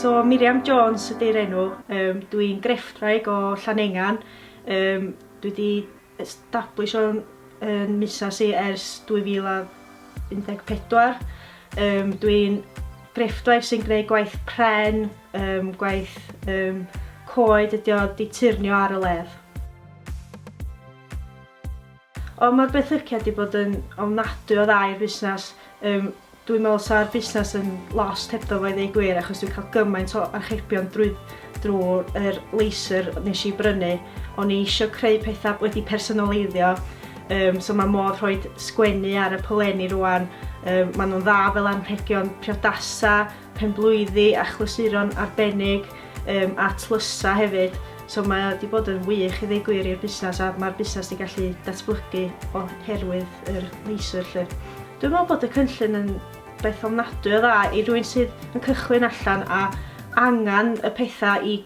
So Miriam Jones ydy'r enw, um, dwi'n grefftwraig o Llanengan, um, dwi wedi establish o'n um, misas i ers 2014, um, dwi'n grefftwraig sy'n gwneud gwaith pren, um, gwaith um, coed ydi o, di turnio ar y ledd. Ond mae'r benthyciad 'di bod yn ofnadwy o dda i'r busnes, yym dwi'n meddwl 'sa'r busnes yn lost hebddo fo i ddeu gwir achos dwi'n cael gymaint o archebion drwy drwy'r yr laser nes i brynu, o'n i eisiau creu pethau wedi personoleiddio, um, so mae modd rhoi sgwennu ar y polenni rwan, um, maen nhw'n dda fel anrhegion priodasa, penblwyddi a chlasuron arbennig yym a tlysa hefyd so mae o 'di bod yn wych i ddeu gwir i'r busnes a mae'r busnes 'di gallu datblygu oherwydd yr leisure 'lly. Dwi'n meddwl bod y cynllun yn beth ofnadwy o dda i rywun sydd yn cychwyn allan a angen y pethau i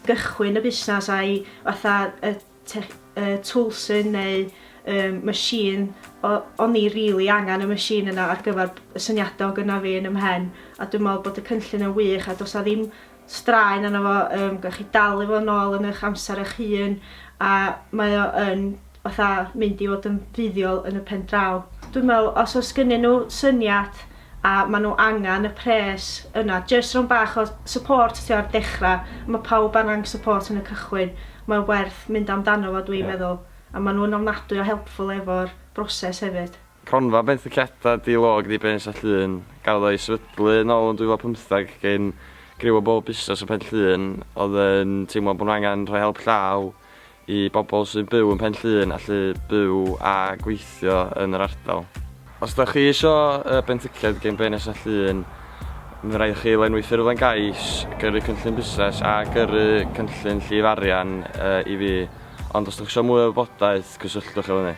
gychwyn y busnes a'i fatha y tech, uh, toolsyn neu um, machine, o'n i really angen y machine yna ar gyfer y syniadau o gyna fi yn ymhen, a dwi'n meddwl bod y cynllun yn wych, a does a ddim straen yna fo, um, gwych chi dalu fo nôl yn eich amser eich hun, a mae o yn fatha mynd i fod yn fuddiol yn y pen draw. Dwi'n meddwl, os oes gynnyn nhw syniad a ma nhw angan y pres yna jyst rownd bach o support ti o'r dechra ma pawb angan support yn y cychwyn mae werth mynd amdano fo dwi'n meddwl a ma nhw'n ofnadwy o helpful efo'r broses hefyd. Cronfa benthyciadau di-log ddi-bens a Llŷn gafodd ei sefydlu yn ôl yn 2015 gin griw o bob busnes yn Pen-llŷn oedd yn teimlo bod nhw angen rhoi help llaw I bobl sy'n byw yn Pen Llŷn allu byw a gweithio yn yr ardal. Os da chi isio benthyciad gen Brên Nesa Llŷn, mae'n rhaid i chi lenwi ffurflen gais, gyrru cynllun busnes a gyrru cynllun llif arian i fi, ond os da chi isio mwy o wybodaeth, cysylltwch efo ni.